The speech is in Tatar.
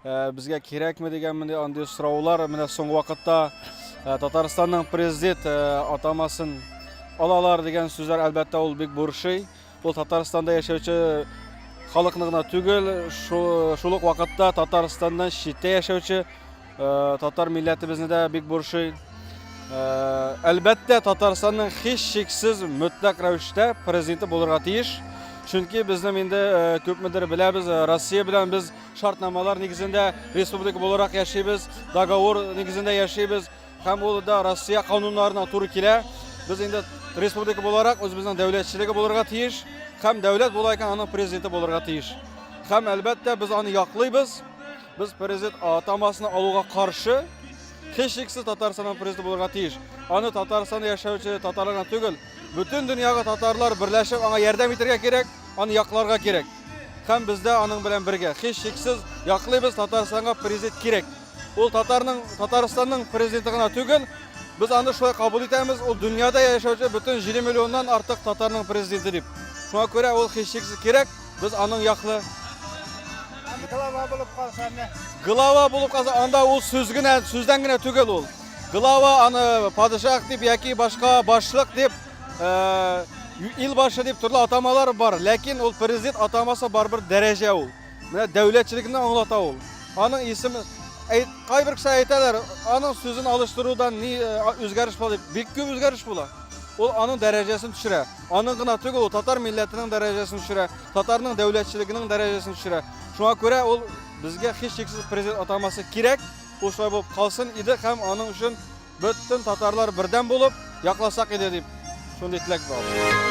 Э, безгә кирәкме дигән менә андый сораулар менә соңгы вакытта э, Татарстанның президент э, атамасын алалар дигән сүзләр әлбәттә ул бик борчый. Ул Татарстанда яшәүче халыкны гына түгел, шул ук вакытта Татарстаннан читтә яшәүче татар милләтебезне дә бик борчый. Әлбәттә, Татарстанның һич шиксез мөтләк рәвештә президенты булырга тиеш. Чөнки безнең инде күпмедер беләбез, Россия белән без Шартнамалар нигезендә республика буларак яшибез, договор нигезендә яшибез һәм ул да Россия кануннарына туры килә. Без инде республика буларак үзебезнең дәүләтчелеге булырга тиеш һәм дәүләт була икән аның президенты булырга тиеш. Һәм әлбәттә без аны яклыйбыз. Без президент атамасына алуга каршы һичшиксез Татарстанның президенты булырга тиеш. Аны Татарстанда яшәүче татарлар түгел, Бөтен дөньягы татарлар берләшеп аңа ярдәм итәргә кирәк, аны якларга кирәк. Һәм без дә аның белән бергә, һичшиксез, яклыйбыз, Татарстанга президент кирәк. Ул татарның, Татарстанның президенты гына түгел, без аны шулай кабул итәмез, ул дөньяда яшәүче бөтен 7 миллионнан артык татарның президенты дип. Шуңа күрә ул һичшиксез кирәк, без аның яклы. Глава булып калса, анда ул сүз генә, сүздән генә түгел ул. Глава аны падишах дип яки башка башлык дип, ил башы дип төрле атамалар бар, ләкин ул президент атамасы барыбер дәрәҗә ул. Менә дәүләтчелекне аңлата ул. Аның исеме кайбер кеше әйтәләр, аның сүзен алыштырудан ни үзгәреш була дип. Бик күп үзгәреш була. Ул аның дәрәҗәсен төшерә. Аның гына түгел, ул татар милләтенең дәрәҗәсен төшерә, татарның дәүләтчелегенең дәрәҗәсен төшерә. Шуңа күрә ул безгә һичшиксез президент атамасы кирәк. Ул шулай булып калсын иде һәм аның өчен бөтен татарлар бердәм булып якласак иде дип шундый теләк бар.